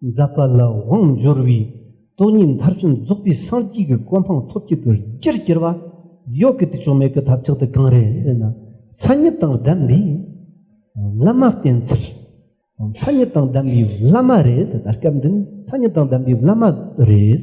འཛད་པ་ལ་དབང་འབྱོར་བའི་སྟོང་ཉིད་མཐར་ཕྱིན་རྫོགས་པའི་སངས་རྒྱས་ཀྱི་གོ་འཕང་ཐོབ་བྱེད་དུ་ཅིར་བསྐྱེད་པ། གཡོག་གི་དུས་ཕྱོགས་མེད་ཀྱི་ཐབས་ཆག་ཏུ་གང་རེ་ཟེར་ན། ཚ་ཉིད་དང་ལྡན་པའི་བླ་མ་བསྟེན་ཚུལ། ཚ་ཉིད་དང་ལྡན་པའི་བླ་མ་རེད་ཟེར་ན་སྐབས་འདི་ནས་ཚ་ཉིད་དང་ལྡན་པའི་བླ་མ་རེད།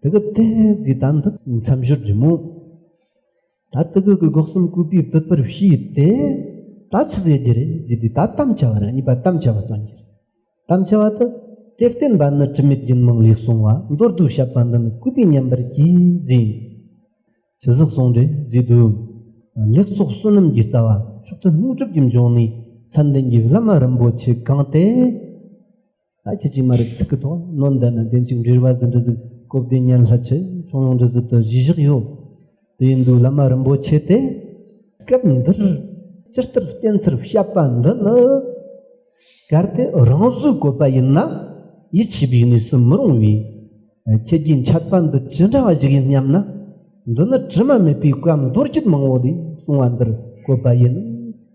དེ་གི་དེ་དེ་དམ་དུ་མཚམས་བཞུར་རྒྱུ་མོ་ད་དེ་གི་གི་འགོག་སུམ་གུས་པའི་བུ་པར་བྱས་ཏེ་ད་ཆུ་ཟེ་རྒྱུ་རེ་རྒྱུ་དེ་ད་དམ་བྱ་བ་རེ་གཉིས་པ་དམ་བྱ་བ་དང་རྒྱུ་དམ་བྱ་བ་དུ་དེ་བརྟེན་པ་ནི་དྲི་མེད་རྒྱུན་མང་ལས་སོང་བ་མདོར་བསྡུ་བྱ་བ་འདི་ནི་གུས་པའི་ཉམས་པར་གྱིས་རྫིང་ཆུ་ཟག་སོང་རེ་རྒྱུ་དུ་ལེགས་ཚོགས་བསོད་ནམས་ཀྱི་རྩ་བ་མཆོག་ཏུ་ལྷུན་གྲུབ་ཀྱི་འབྱུང་གནས་མཚན་ལྡན་གྱི་བླ་མ་རིན་པོ་ཆེ་གང་དེ་ལྷ་ཁྱེད་ཀྱིས་མ་རིག་ཚིག་གི་ཐོག་བློ་འདས་ན་བདེན་གཅིག་འདྲིར་བ་འདི་འདྲི་ཟིག་སྐུ་བདེ་གཉན་ལྷ་ཆེ་ཆུང་ཡོངས་འདྲི་ཟིག་དུ་གཞི་བཞག་ཡོད་དེ་ཡིན་དུས་བླ་མ་རིན་པོ་ཆེ་དེས་སྐབས་འདིར་སྤྱིར་ལྟར་བསྟན་ཚུལ་བཤད་པ་འདི་ནི་གལ་ཏེ་རང་བཟོའི་བཀོད་པ་ཡིན་ན་ཡིད་ཆེས་པའི་གནས་སུ་མི་རུང་བས་ཁྱེད་ཀྱིས་འཆད་པ་འདི་ཅི་འདྲ་བ་ཞིག་ཡིན་སྙམ་ན་འདི་ནི་དྲི་མ་མེད་པའི་བཀའ་མདོ་རྒྱུད་མང་བོ་ལས་གསུངས་བ་འདིར་བཀོད་པ་ཡིན།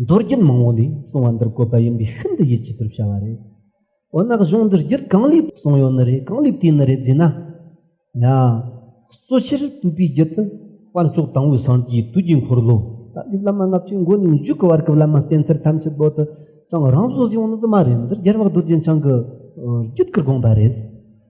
མདོར་བསྒྱུར་མང་བོ་ལས་གསུང་བ་འདིར་བཀོད་པ་ཡིན་པས་ཤིན་ཏུ་ཡིད་ཆེས་པར་བྱ་བ་རེད། འོ་ན་གཞུང་འདིར་བསྒྱུར་གང་ལེགས་གསུང་ཡོད་ནི་རེད་གང་ལེགས་བྲིས་ནི་རེད་རྫུས་ན། ཡང། གཙོ་ཆེར་བསྟོད་པའི་རྒྱུད་དུ། དཔལ་མཆོག་དང་པོའི་སངས་རྒྱས་དུས་ཀྱི་འཁོར་ལོ། ད་ལྟའི་བླ་མ་ལྔ་བཅུའི་མགོ་ནས་མཇུག་གི་བར་གྱི་བླ་མ་བསྟན་འཚེར་ཐམས་ཅད་བོད་དུ་བྱུང་རང་བཟོ་བཟོས་ཡོང་ནི་དུ་མ་རེད་འདིར་རྒྱལ་བ་རྡོ་རྗེ་འཆང་གི་རྒྱུད་ཀྱི་དགོངས་པ་རེད།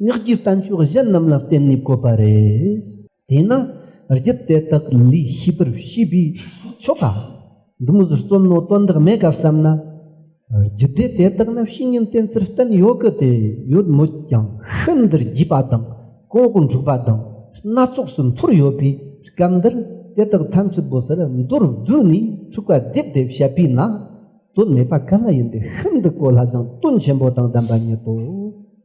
སྔགས་ཀྱི་རྟ་མཆོག་གཞན་རྣམས་ལ་བརྟེན་ནས་བཀོད་པ་རེད། དེས་ན་རྒྱུད་དེ་དག་ལས་ཤེས་པར་བྱས་པའི་ཆོ་ག་འདུམ་བཟོ་རྩོམ་རྣོ་དོན་དག་མེད་ག་བསམ་ན། རྒྱུད་སྡེ་དེ་དག་ནི་བཤེས་གཉེན་བསྟེན་ཚུལ་བསྟན་ཡོད་གི་དེ་ཡོད་མོད་ཀྱང་ཤིན་ཏུ་རྒྱས་པ་དང་ལྐོག་འགྲོ་པ་དང་སྣ་ཚོགས་སུ་འཐོར་ཡོད་པའི་སྐབས་འདིར་དེ་དག་ཐམས་ཅད་བོད་སར་མདོར་བསྡུས་ནས་འཁྲུགས་པ་རྡེབ་རྡེབ་བྱས་པས་ན་དོན་མེད་པ་ག་ལ་ཡིན་ཏེ་ཤིན་ཏུ་གོ་སླ་ཞིང་དོན་ཆེན་པོ་དང་ལྡན་པ་ཉིད་དོ།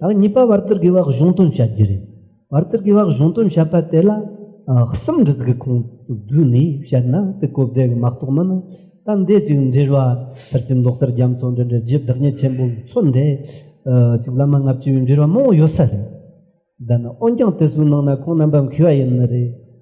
དང་གཉིས་པ་བར་དོར་དགེ་བ་གཞུང་དོན་བྱ་རྒྱུ་རེད་བར་དོར་དགེ་བ་གཞུང་དོན་བྱ་པ་དེ་ལ་གསུམ་འདྲི་གི་ཁོང་བསྡུས་ནས་བཤད་ན་དེ་གོ་བདེ་གི་མ་རྟོགས་མིན་ད་འདས་ཅིག་འབྲེལ་བ་ཕྱིར་གྱི་མདོག་གསར་རྒྱ་མཚོ་འདྲེན་འདྲེ་རྗེས་བདག་ཉིད་ཆེན་པོ་མཚོ་འདྲེ་ཅིག་བླ་མ་ལྔ་བཅུའི་འབྲེལ་བ་མང་བོ་ཡོད་ས་རེད་འདི་ནི་འོན་ཀྱང་དེ་སུའི་ནང་ན་ཁོང་རྣམ་པ་མཁས་པ་ཡིན་ནི་རེད།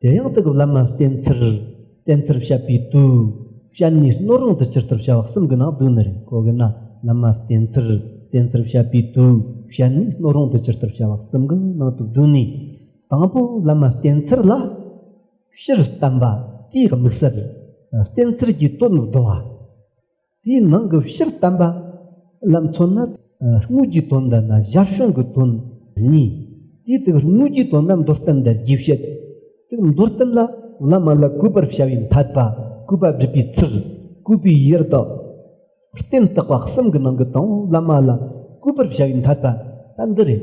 དེ་ཡང་དེ་གི་བླ་མ་བསྟེན་ཚུལ་བསྟེན་ཚུལ་བཤད་པའི་དུས་བཤད་ནས་སྣོད་རུང་དུ་ཇི་ལྟར་བྱ་བ་གསུམ་གྱི་ནང་བསྡུས་ནི་རེད་གོ་གི་ན་བླ་མ་བསྟེན་ཚུལ་བསྟེན་ཚུལ་བཤད་པའི་དུས་བཤད་ནས་སྣོད་རུང་དུ་ཇི་ལྟར་བྱ་བ་གསུམ་གྱི་ནང་དུ་བསྡུས་ནས་དང་པོ་བླ་མ་བསྟེན་ཚུལ་ལ་ཕྱིར་བསྟན་པ་དེའི་དམིགས་བསལ་བསྟེན་ཚུལ་གྱི་དོན་བསྡུ་བ། དེའི་ནང་གི་ཕྱིར་བསྟན་པ་ལ་མཚོན་ན་དངོས་ཀྱི་དོན་དེ་ནི་གཞལ་བྱུང་གི་དོན་གཉིས་དེའི་སྟེང་དངོས་ཀྱི་དོན་ནི་མདོར་བསྟན་འདིར་རྒྱས་བཤད་དེ། མདོར་བསྟན་ལ་བླ་མ་ལ་གུས་པར་བྱ་བའི་འཐད་པ་གུས་པ་བསྒྲུབ་པའི་ཚུལ་གུས་པའི་ཡུལ་དང། རྟེན་བརྟག་པ་གསུམ་གྱི་ནང་གི་དང་བོ་བླ་མ་ལ་གུས་པར་བྱ་བའི་འཐད་པ་ལྟ་འདི་རེད།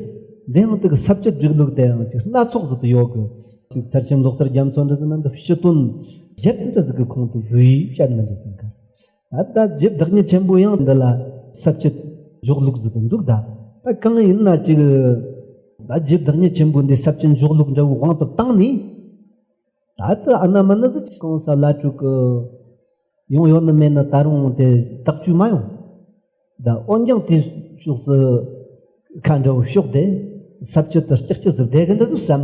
འདི་ཡང་དག་ཟབ་ཆོས་སྒྲིག་ལུགས་དེ་ཡང་ཅིག་སྣ་ཚོགས་སུ་དུ་ཡོད་དགོས། ཅིག་ཚར་ཆེན་ལོག་སར་རྒྱ་མཚོ་འདྲི་ཟིན་ན་འདི་ཕྱི་དོན་གཞན་འདྲི་ཟིན་གྱི་ཁོང་དུ་བསྡུས་བཤད་མི་འདྲི་ཟིན་ཁར། ད་རྒྱུད་བདག་ཉིད་ཆེན་པོ་ཡང་འདི་ལ་ཟབ་ཅིག་འཇོག་ལུགས་འདི་འདུག་ད་གང་ཡིན་ན་ཅིག་ད་རྒྱུད་བདག་ཉིད་ཆེན་པོ་འདི་ཟབ་ཅིག་འཇོག་ལུགས་འདྲ་བོའི་དབང་དུ་བཏང་ནས་ད་ལྟ་ཨ་ན་མ་ན་ཟི་ཅིག་གང་ས་བླ་སྤྲུལ་གི་ཡོང་ཡོད་ནི་མེད་ནི་ད་རུང་དེ་བརྟག་བཅོས་མ་ཡོང་ད་འོན་ཀྱང་དེ་ཕྱོགས་སུ་ཁ་འདྲ་བོ་ཕྱོགས་དེ་ཟབ་ཅིག་ཏུ་ལྕགས་ཀྱི་གཟུགས་བསྡད་གི་འདི་ཟིག་བསམ་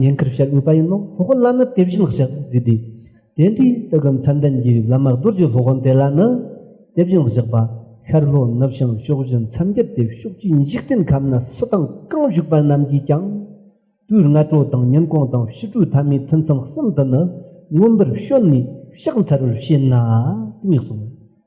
ཉེན་ཁར་བཤད་འོས་པ་ཡིན་ནོ་སློབ་དཔོན་བླ་མས་དེ་བཞིན་བཤད་དེ་དེ་དེ་འདྲའི་དེ་གམ་མཚན་ལྡན་གྱི་བླ་མ་རྡོ་རྗེ་སློབ་དཔོན་དེ་ལ་ནི་དེ་བཞིན་བཤད་པ་ཤར་ལྷོ་ནུབ་བྱང་ཕྱོགས་བཞི་མཚམས་བརྒྱད་དེ་ཕྱོགས་ཀྱི་འཇིག་རྟེན་ཁམས་ན་སུ་དང་གང་བཞུགས་པ་རྣམས་ཀྱིས་ཀྱང་དུས་ལྔ་དྲོ་དང་ཉིན་གུང་དང་ཕྱི་དྲོའི་ཐ་མའི་ཐུན་མཚམས་གསུམ་དུ་ནི་མངོན་པར་བཤོལ་ནས་བཤགས་འཚལ་བར་བྱེད་ན་དམིགས་སོ།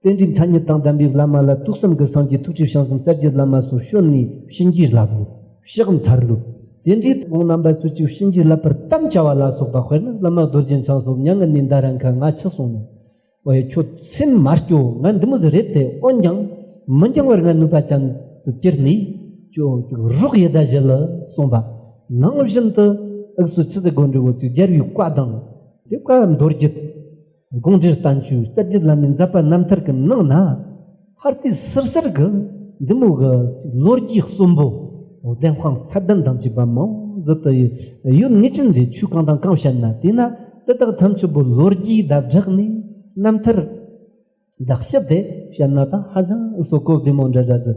རྟེན་འབྲེལ་མཚན་ཉིད་དང་ལྡན་པའི་བླ་མ་ལ་ཐུགས་བསམ་གྱི་སངས་རྒྱས་ཐུགས་ཀྱི་བྱང་སེམས་གསལ་རྒྱལ་བླ་མ་སོགས་བཤོལ་ནས་གཤིན་རྗེའི་བསླབ་བོ། ཕྱག་འཚལ་ལོ། དེ་འདྲའི་དགོངས་རྣམ་པ་ཚུལ་གཅིག་གཤིན་རྗེའི་བསླབ་པར་གཏམ་བྱ་བ་ལ་སོགས་པ་དཔེར་ན་བླ་མ་རྡོ་རྗེ་འཆང་སོགས་མྱ་ངན་ལས་འདའ་ར་མཁན་ང་འཆི་སོང་ནས། ཨོའེ་ཁྱོད་སེམས་མ་སྐྱོ་ང་འདི་མོ་ཟི་རེད་དེ་འོན་ཀྱང། མི་འགྱང་བར་ང་ནུས་པ་ཅན་དུ་གྱུར་ནས། ཁྱོད་ཀྱི་རོགས་ཡེ་དག་བཞེས་ལ་གསུངས་པ། ནང་བཞིན་དུ། དབུགས་སུ་ཆུ་ཟེར་སྒོ་འགྲོའི་འོག་ཏུ་སྦྱར་བའི་བཀའ་དང། དེ་བཀའ་མདོར་བསྒྱུར། དགོངས་འགྲེལ་རྟ་མཆོད་རྩ་བརྒྱུད་བླ་མའི་ཛཔ྄་རྣམ་ཐར་གྱི་ནང་ན་འཕར་ལྟས་གསེར་གསེར་གྱི་འདི་མོ་གི་ལོ་རྒྱུས་གསུམ་པོ་བདེན་དཔང་ཚད་ལྡན་དམ་ཆོས་པ་མང་བཟོ་དུ་ཡོད་ངེས་ཅན་རེ་ཆོས་གང་དང་གང་བཤད་ན་དེས་ན་དེ་དག་དམ་ཆོས་པོ་ལོ་རྒྱུས་དག་བསྒྲགས་ནས་རྣམ་ཐར་དག་ཞིབ་ཏེ་བཤད་ན་དང་ཧ་ཅང་བསོད་གོ་བདེ་མོ་འདྲ་འདྲ་ཟེར།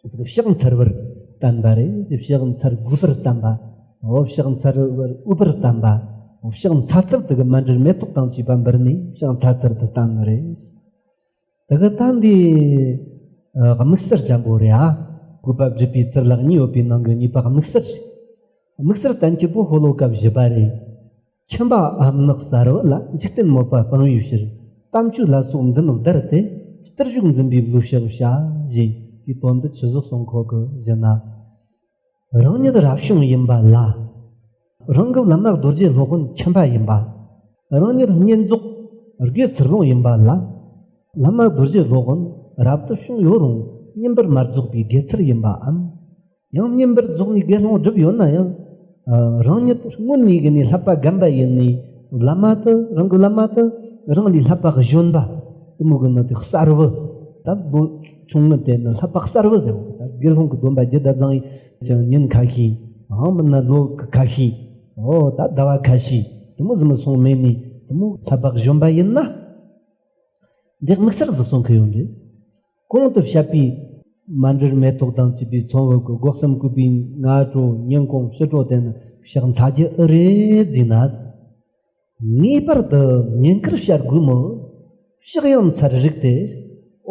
ཕྱག་མཚར་བར་བསྟན་པ་རེ་ཕྱག་མཚར་དགུ་པར་བསྟན་པ་ཕྱག་མཚར་བར་དབུ་པར་བསྟན་པ་ཕྱག་མཚར་ཚར་དུ་མ་འདྲིར་མེ་ཏོག་དང་བཅས་པ་འབུལ་ནས་ཕྱག་མཚར་ཚར་དུ་བསྟན་པ་རེ་དག་བསྟན་དེ་དམིགས་སར་ལྗང་པོ་རེ་ཨ་གུས་པ་བརྒྱུད་པའི་ཚུར་ལག་གཉིས་ཡོད་པའི་ནང་གི་གཉིས་པ་དམིགས་སར་དམིགས་སར་བསྟན་སྐྱེས་པོ་ཧོ་ལོ་ཀ་བཞི་པ་རེ་ཁྱིམ་པ་འམ་ནགས་གསར་བུ་ལ་འཇིག་རྟེན་དམོད་པ་སྤང་བའི་ཕྱིར་གཏམ་བཅུ་ལ་སོགས་འདི་ལོ་བདར་ཏེ་བསྟུར་གཞུག་འཛིན་པའི་ལུས་ཞབས་བྱ། གཞན་གྱི་དོན་འདི་ཇི་བཞུགས་སྲོག་འཁོར་གྱི་གཞི་ན། རང་ཉིད་རབ་བྱུང་ཡིན་པ་ལ། རང་གི་ལམ་ནག་རྡོ་རྗེ་སློབ་དཔོན་ཁྱིམ་པ་ཡིན་པ། རང་ཉིད་བསྙེན་རྫོགས་སྒོས་ཚུར་ལོངས་ཡིན་པ་ལ། ལམ་ནག་རྡོ་རྗེ་སློབ་དཔོན་རབ་ཏུ་བྱུང་ཡོད་རུང་བསྙེན་པར་མ་རྫོགས་པའི་དགེ་ཚུལ་ཡིན་པའམ། ཡང་བསྙེན་པར་རྫོགས་ནས་དགེ་སློང་བསྒྲུབས་ཡོད་ན་ཡང་རང་ཉིད་སྔོན་ཉིད་ཀྱི་ནས་ལྷག་པ་བརྒན་པ་ཡིན་ནས་བླ་མ་དུ་རང་གི་བླ་མ་དུ་རང་ལས་ལྷག་པ་གཞོན་པ་དུ་མོ་གི་ནང་དུ་གསར་བུ་ད་ལོ་ཆུང་ངུ་དེ་ནི་ལྷག་པ་གསར་བུ་ཟེར་བ་དགེ་སློང་གི་སྡོམ་པ་རྒྱུད་ད་བཟང་ཡང་ཉིན་ཁ་ཤས་ཨ་མ་ན་ལོ་ཁ་ཤས་ཨོ་ད་ཟླ་བ་ཁ་ཤས་དུ་མོ་ཟི་མི་སོང་མེད་ནས་དུ་མོ་ལྷག་པ་གཞོན་པ་ཡིན་ན་འདི་དམིགས་བསལ་ཟི་སོང་གི་ཡོད་རེད། གོང་དུ་བཤད་པའི། མ་འདྲེར་མེ་ཏོག་དང་བཅས་པའི་ཚོང་འོག་གི་སྒོག་སམ་སྐུད་པའི་སྔ་དྲོ་སྙིང་གོང་བསུ་དྲོ་དེ་ནི་ཕྱག་འཚལ་གྱི་ཨུ་རེ་རྫས་ན། ངེས་པར་དུ་ཉེན་ཁར་བཤད་དགོས་མོད། ཕྱག་ཡང་འཚལ་རིགས་ཏེ།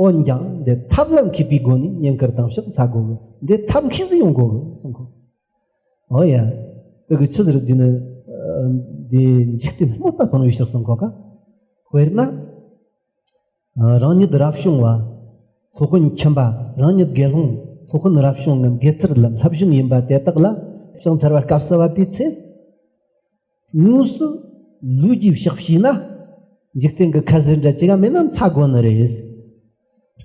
འོན་ཀྱང་འདི་ཐབས་ལ་མཁས་པའི་སྒོ་ནས་ཉེན་ཁར་དང་ཕྱག་འཚལ་དགོས་མོད་འདི་ཐབས་མཁས་སུ་ཡང་དགོས་ལ་གསུངས་སོ། ཨོ་ཡ། བོད་ཀྱི་ཆུ་ཟེར་དུས་ནི། འདི་འཇིག་རྟེན་སྨོད་པ་སྤངས་བའི་ཕྱིར་གསུངས་གོ། དཔེར་ན། རང་ཉིད་རབ་བྱུང་བ། ལྷོ་ཀོན་ཁྱིམ་པ་རང་ཉིད་དགེ་སློང་ལྷོ་ཀོན་རབ་བྱུང་ངམ་དགེ་ཚུལ་ལྷ་བྱུང་ཡིན་པ་དེ་དག་ལ་བྱང་ཚར་བ་སྐབས་སུ་བབས་པའི་ཚེ། དངོས་སུ་ལུས་ཀྱིས་བཤགས་བྱས་ན། འཇིག་རྟེན་གྱི་ཁ་ཟས་འདྲ་ཅི་ག་མེད་ན་འཚ་དགོས་ནི་རེད།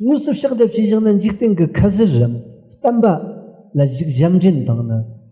དངོས་སུ་བཤགས་འདྲ་བྱས་བཞག་ན་འཇིག་རྟེན་གྱི་ཁ་ཟས་རམ་གཏམ་པ་ལ་གཞིག་བཞམས་འདྲེན་དང་ནི།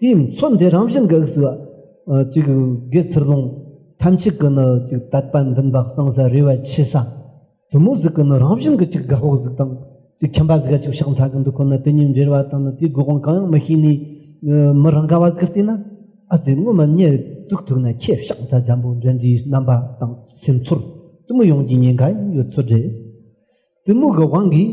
དེའི་མཚོན་དེ་རང་བཞིན་གེགས་སུ་གཅིག་དགེ་ཚུར་ལོངས་ཐམས་ཅད་ཀྱི་ནི་གཅིག་དད་པ་འདུན་པ་གསང་ས་རེ་བ་ཆེ་ས་དུ་མོ་གཟུགས་ཀྱི་ནི་རང་བཞིན་གྱི་གཅིག་དགའ་བོ་གཟུགས་དང་གཅིག་ཁྱིམ་པ་གཟུགས་གཅིག་ཕྱག་འཚལ་གྱི་འདུ་ཁོ་ནི་དེ་གཉིས་འབྲེལ་བ་དང་ནི་དེའི་དགོས་དབང་གང་ཡང་མི་ཤེས་ནས་མི་རང་ག་བ་གི་ལྟས་ན་ཨ་ཙི་སྔོན་མ་ཉེ་དུས་ཐུག་ན་ཁྱེད་ཕྱག་འཚལ་འཇམ་པོ་འདྲེན་འདྲིའི་རྣམ་པ་དང་སེམས་ཚོར་དུ་མོ་ཡོངས་ཀྱི་ཉེན་ཁ་ཡང་ཡོད་ཚོད་རེད་དུ་མོ་གི་དབང་གིས།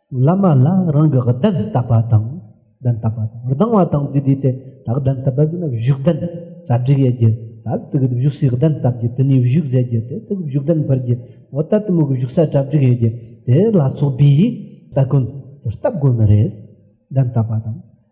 བླ་མ་ལ་རང་གི་གདན་བཏབ་པ་དང་གདན་བཏབ་པ་དང་སྡང་བ་དང་བཅས་དུས་དེ་དག་གདན་བཏབ་པ་ཟིན་ན་བཞུགས་གདན་གྲ་སྒྲིག་ཡས་རྒྱུ་དག་ཏུ་གི་བཞུགས་སའི་གདན་བཏབ་རྒྱུ་དེ་ནས་བཞུགས་མཛད་རྒྱུ་དེ་དག་བཞུགས་གདན་འཕར་རྒྱུ་འོ་ད་ལྟ་མོ་གི་བཞུགས་ས་གྲ་སྒྲིག་ཡས་རྒྱུ་དེ་ལ་སོགས་པའི་ཡིག་བརྡ་ཀུན་བཏབ་དགོས་ནི་རེད་གདན་བཏབ་པ་དང།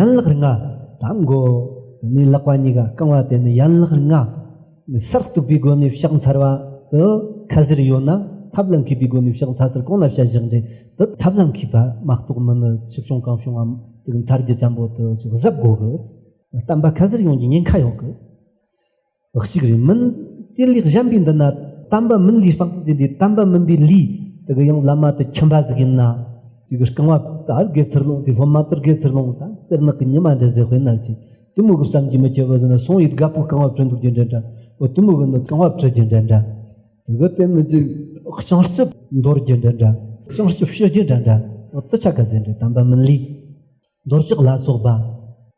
ཡན་ལག་རིགས་ལྔ་དང་མགོ། ནི་ལག་པ་གཉིས་ཀ་རྐང་བ་དེ་ནི་ཡན་ལག་རིགས་ལྔ། ནི་སར་གཏུགས་པའི་སྒོ་ནས་བཤགས་འཚལ་བ། དུ་ཁ་ཟེར་ཡོད་ན་ཐབས་ལ་མཁས་པའི་སྒོ་ནས་བཤགས་འཚལ་ཚུལ་གང་ལ་བཤད་བཞག་འབྲས་དུ་ཐབས་ལ་མཁས་པ་མ་གཏོགས་མི་ནི་ཆུ་བྱུང་གང་བྱུང་ངམ་དུག་མཚར་རྒྱུ་ལྕམ་པོ་དུ་ཅིག་གཟབ་དགོ་གི། གཏམ་པ་ཁ་ཟེར་ཡོངས་ཀྱི་ཉེན་ཁ་ཡོད་གི། གཅིག་རེ་མིན། དེ་ལས་གཞན་པའི་འདི་ན་དམ་པ་མིན་ལུས་སྤངས་ཏེ་འདི་དམ་པ་མིན་པའི་ལུས་དེ་གི་ཡང་བླ་མ་དེ་ཁྱིམ་པ་ཟིག་ཡིན་ན། དེ་གི་རྐང་བ་དར་དགེ་ཚུར་ལོངས་དེ་སློབ་མ་དར་དགེ་ཚུར་ལོངས་དང་སེར་ནག་གི་ཉི་མ་འདྲ་ཟེར་དཔེར་ན་ཅིག་གཏི་མུག་གི་བསམ་གྱིས་མི་ཁྱབ་པ་ཟེར་ན་སོང་ཡུལ་དགའ་པོ་རྐང་བ་བྲོས་འདུག་རྒྱུ་འདྲ་འདྲ་འོ་གཏི་མུག་གི་ནི་རྐང་བ་བྲོས་རྒྱུ་འདྲ་འདྲ། དེ་གི་དེ་མི་ཚེ་བྱང་ཆུབ་འདོར་རྒྱུ་འདྲ་འདྲ་བྱང་ཆུབ་ཤི་རྒྱུ་འདྲ་འདྲ་འོ་དི་ཆ་ག་ཟེར་འདྲ་དམ་པ་མིན་ལུས། འདོར་ཆགས་ལ་སོགས་པ།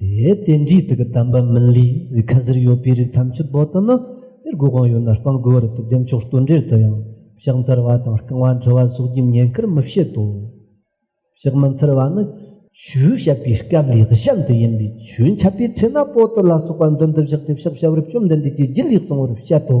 དེའི་རྟེན་གཞིའི་ཐུགས་ཀ་དམ་པ་མིན་ལི་ཡི་ཁ་ཟུར་ཡོད་པའི་རིགས་ཐམས་ཅད་བོད་དུ་ནི་དེར་སྒོ་གང་ཡོད་ན་སྤང་དགོས་བར་དུ་འདེམས་ཆོག་ལྟོས་འབྲེལ་དུ་ཡང་ཕྱག་འཚལ་བ་དང་རྐང་བ་འགྲོ་བ་སོགས་ཀྱི་ཉེན་ཁར་མི་བྱེད་དོ། ཕྱག་མི་འཚལ་བ་ནི། ཆོས་བཤད་པའི་སྐབས་ལེགས་བཤད་འདི་ཡིན་པས་ཆོས་འཆད་པའི་ཚེ་ན་པོ་ཏི་ལ་སོགས་པ་མདུན་དུ་བཞག་སྟེ་ཕྱག་བྱ་བར་བཅོམ་ལྡན་འདས་ཀྱིས་རྒྱུད་ལེགས་གསུང་བར་བཤད་དོ།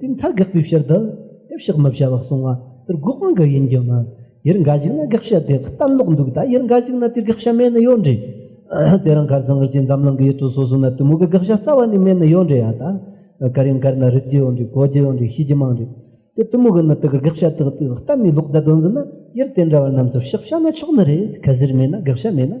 དེ་མཐའ་དགག་པའི་ཕྱིར་དུ་དེ་བཤགས་མི་བྱ་བར་གསུང་བ་དེར་དགག་དབང་གི་ཡིན་གྱི་མིན། ཡུལ་འགའ་ཞིག་ན་དགག་བྱ་དེ་གཏན་ལོག་འདུག་ད་ཡུལ་འགའ་ཞིག་ན་དེ་དགག་བྱ་མེད་ནི་ཡོད་འདྲེ། དེ་རང་གར་ཟངས་རི་ཅན་འཛམ་གླིང་གི་ཡུལ་གྲུ་སོ་སོ་ན་གཏི་མུག་གི་དགག་བྱ་རྩ་བ་ནས་མེད་ནི་ཡོད་འདྲེ་ཡ་ད། གར་ཡང་གར་ན་རིགས་རྒྱུ་ཡོད་འདྲེ་གོ་རྒྱུ་ཡོད་འདྲེ་ཤེས་རྒྱུ་མང་འདྲེ། དེ་གཏི་མུག་གི་ནི་དེ་གར་དགག་བྱ་དག་དེ་གཏན་ནས་ལོག་ད་དོན་ཟིན་ན་ཡུལ་དེ་འདྲ་བ་རྣམས་སུ་བཤགས་བྱ་ན་ཆོག་ནི་རེད་གལ་སྲིད་མེད་ན་དགག་བྱ་མེད་ན།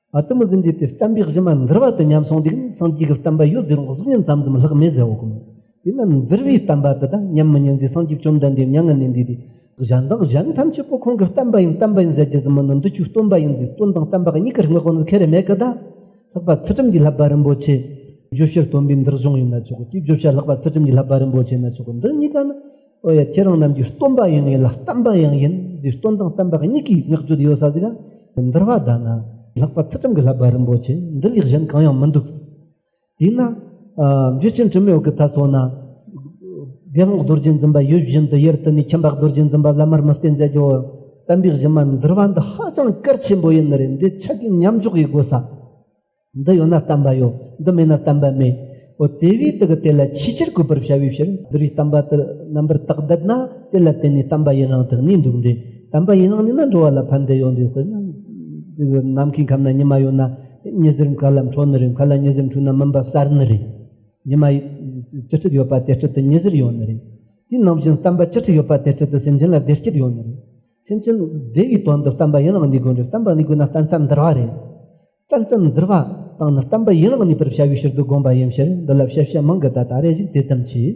ཨ་ཏི་མི་ཟིན་འདས་པའི་གཏམ་དཔེ་བཞི་མ་འདིར་བ་དུ་ཉམས་སོང་འདུག་ན་སངས་རྒྱས་ཀྱི་གཏམ་པ་ཡོད་ཟེར་རུང་གཟུགས་བརྙན་ཙམ་ཙམ་ལྷག་མེད་ཟེར་བ་གོ། དེས་ན་འདིར་བའི་གཏམ་པ་དེ་དག་ཉམས་མི་ཉམས་ཀྱིས་སངས་རྒྱས་བཅོམ་ལྡན་འདས་མྱ་ངན་ལས་འདས་ཏེ། གཞན་དག་གཞན་ཐམས་ཅད་པོ་ཁོང་གི་གཏམ་པ་ཡིན་གཏམ་པ་ཡིན་ཟེར་རྒྱུ་ཟིན་མོད་ནི་འདི་ཆོས་སྟོན་པ་ཡིན་ཟེར་སྟོན་དང་གཏམ་པ་གཉིས་ཀར་དངོས་པོ་ནི་ཁེ་རེ་མེད་ཀི་ད། ལྷག་པ་ཚུལ་ཁྲིམས་ཀྱི་བསླབ་པ་རིན་པོ་ཆེ། བརྗོད་བྱར་སྟོན་པའི་འདིར་གཞུང་ཡིན་ན་ཆོག་གོ་དེའི་བརྗོད་བྱ་ལྷག་པ་ཚུལ་ཁྲིམས་ཀྱི་བསླབ་པ་རིན་པོ་ཆེ་ཡིན་ན་ཆོག་གོ་འདི་གཉིས་ཀ་ནི། ཨོ་ཡ་ཁྱེད་རང་རྣམས་ཀྱི་སྟོན་པ་ཡང་ཡིན་ལ་བསྟན་པ་ཡང་ཡིན་འདིར་སྟོན་དང་བསྟན་པ་གཉིས་ཀྱི་བསྔགས་བརྗོད་ཡོད་ས་ཟིག་ཨ། འདིར་བ་དག་ན་ལྷག་པ་ཚུལ་ཁྲིམས་ཀྱི་ལྷ་བ་རིན་པོ་ཆེ་འདི་ལས་གཞན་གང་ཡང་མི་འདུག། དེས་ན། འཇུ་ཆེན་དྲི་མེད་འོད་ཀྱི་ལྟ་སོགས་ན། དགེ་སློང་རྡོ་རྗེ་འཛིན་པ་ཡུལ་བཞིན་དུ་དབྱར་དུ་ནི་ཁྱིམ་བདག་རྡོ་རྗེ་འཛིན་པ་བླ་མར་མི་བསྟེན་མཛད་ཀྱིའོ། བསྟན་པའི་གཞི་མ་འདིར་བ་འདི་ཧ་ཅང་གལ་ཆེན་པོ་ཡིན་ནི་རེད་འདི་ཆ་རྐྱེན་མཉམ་འཇོག་གིས་དགོས་ས། འདི་ཡོད་ན་བསྟན་པ་ཡོད་འདི་མེད་ན་བསྟན་པ་མེད། འོ་དེ་བས་དེ་གི་དེ་ལ་ཆེས་ཆེར་གུས་པར་བྱ་བའི་ཕྱིར་འདི་རུའི་བསྟན་པ་དེ་རྣམ་པར་དག་བསྡད་ན་དེ་ལ་བརྟེན་ནས་བསྟན་པ་ཡི་རང་དེ་གནས་འདུག་འདྲེ་བསྟན་པ་ཡི་རང་གནས་ན་འགྲོ་བ་ལ་ཕན་བདེ་ཡོད་འདྲེ་དཔེར་ན། ནམ་མཁའི་ཁམས་ན་ཉི་མ་ཡོད་ན་ཉི་ཟེར་མཁའ་ལ་འཕྲོ་ནི་རེད་མཁའ་ལ་ཉི་ཟེར་འཕྲོས་ན་མུན་པ་བསལ་ནི་རེད། ཉི་མ་ཅི་ཕྲད་ཡོད་པ་དེ་ཕྲད་དུ་ཉི་ཟེར་ཡོད་ནི་རེད། དེ་ནང་བཞིན་བསྟན་པ་ཅི་ཕྲད་ཡོད་པ་དེ་ཕྲད་དུ་སེམས་ཅན་ལ་བདེ་སྐྱིད་ཡོད་ནི་རེད། སེམས་ཅན་བདེ་བའི་དོན་དུ་བསྟན་པ་ཡི་རང་གནས་དགོས་འདྲེ་བསྟན་པ་གནས་དགོས་ན་བསྟན་བསམ་འདར་བ་རེད། རྟགས་ཙམ་བསྒྱུར་བ་དང་ནི་བསྟན་པ་ཡན་ལག་གཉིས་པར་བྱ་བའི་ཕྱིར་དུ་དགོངས་པ་ཡིན་ཕྱིར་འདི་ལ་བཤད་བྱ་མང་གི་ད་ད་རེ་ཞིག་དེ་ཙམ་གྱིས།